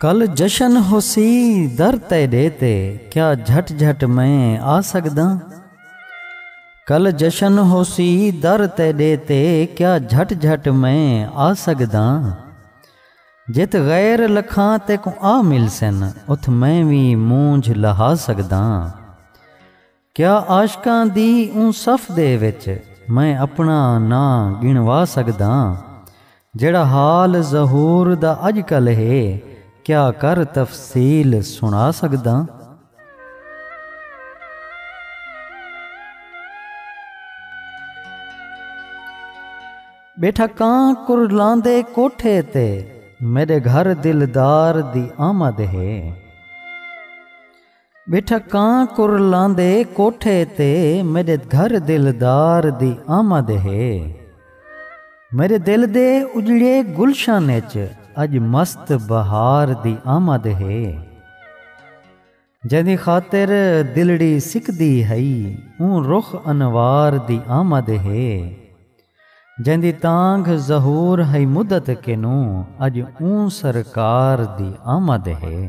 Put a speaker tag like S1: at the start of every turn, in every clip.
S1: کل جشن ہوسی در تیڈے تے کیا جھٹ جھٹ میں آ سکدا کل جشن ہوسی در تیڈے تے کیا جھٹ جھٹ میں آ سکدا جت غیر لکھاں تیکوں آ ملسن اتھ میں وی مونجھ لہا سگداں کیا عاشقاں دی اوں صف دے وچ میں اپنا ناں گنوا سگداں جیڑھا حال ظہور دا اج کل ہے کیا کر تفصیل سنا سگداں۔ ٻیٹھا کاں کرلاندے کوٹھے تے میݙے گھر دلدار دی آمد ہے ٻیٹھا کاں کرلاندے کوٹھے تے میݙے گھر دلدار دی آمد ہے میݙے دل دے اجڑے گلشن اچ اڄ مست بہار دی آمد ہے جیندی خاطر دلڑی سکدی ہئی اوں رخ انوار دی آمد ہے جیندی تانگھ ظہور ہئی مدت کنوں اڄ اوں سرکار دی آمد ہے۔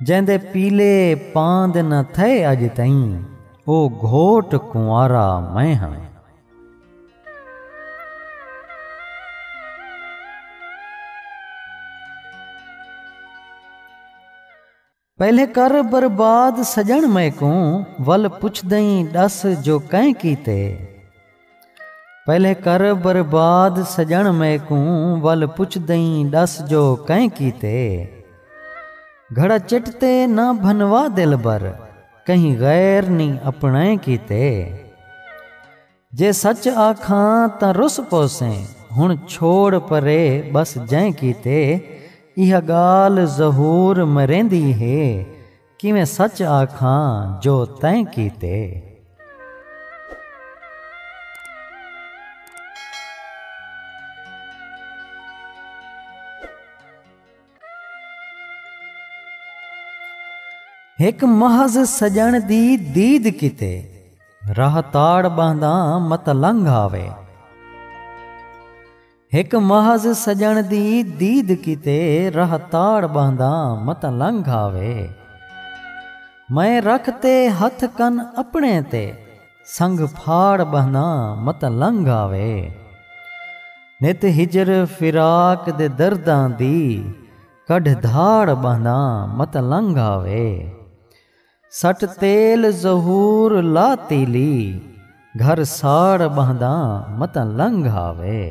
S1: جیندے پیلے پاں دے نہ تھئے اڄ تئیں او گھوٹ کنوارا میں ہاں۔ پہلے کر برباد سڄݨ میکوں ول پچھدئیں ݙس جو کئیں کیتے۔ پہلے کر برباد سجن میکوں ول پچھ دئیں ڈس جو کئیں کیتے گھڑا چٹ تے نہ بھنوا دلبر کہیں غیر نی اپنائیں کیتے جے سچ آکھاں تاں رس پوسیں ہن چھوڑ پرے بس جئیں کیتے ایہا گالھ ظہور مریندی ہے کیویں سچ آکھاں جو تیں کیتے۔ ہک محض سڄݨ دی دید کیتے۔ راہ تاڑ ٻہنداں مت لنگھ آوے۔ ہک محض سڄݨ دی دید کیتے راہ تاڑ ٻہنداں متاں لنگھ آوے میں رکھ تے ہتھ کن اپݨے تے سنگھ پھاڑ ٻہنداں متاں لنگھ آوے نت ہجر فراق دے درداں دی کڈھ دھاڑ ٻہنداں متاں لنگھ آوے۔ سٹ تیل ظہور لا تیلی گھر ساڑ ٻہنداں متاں لنگھ آوے۔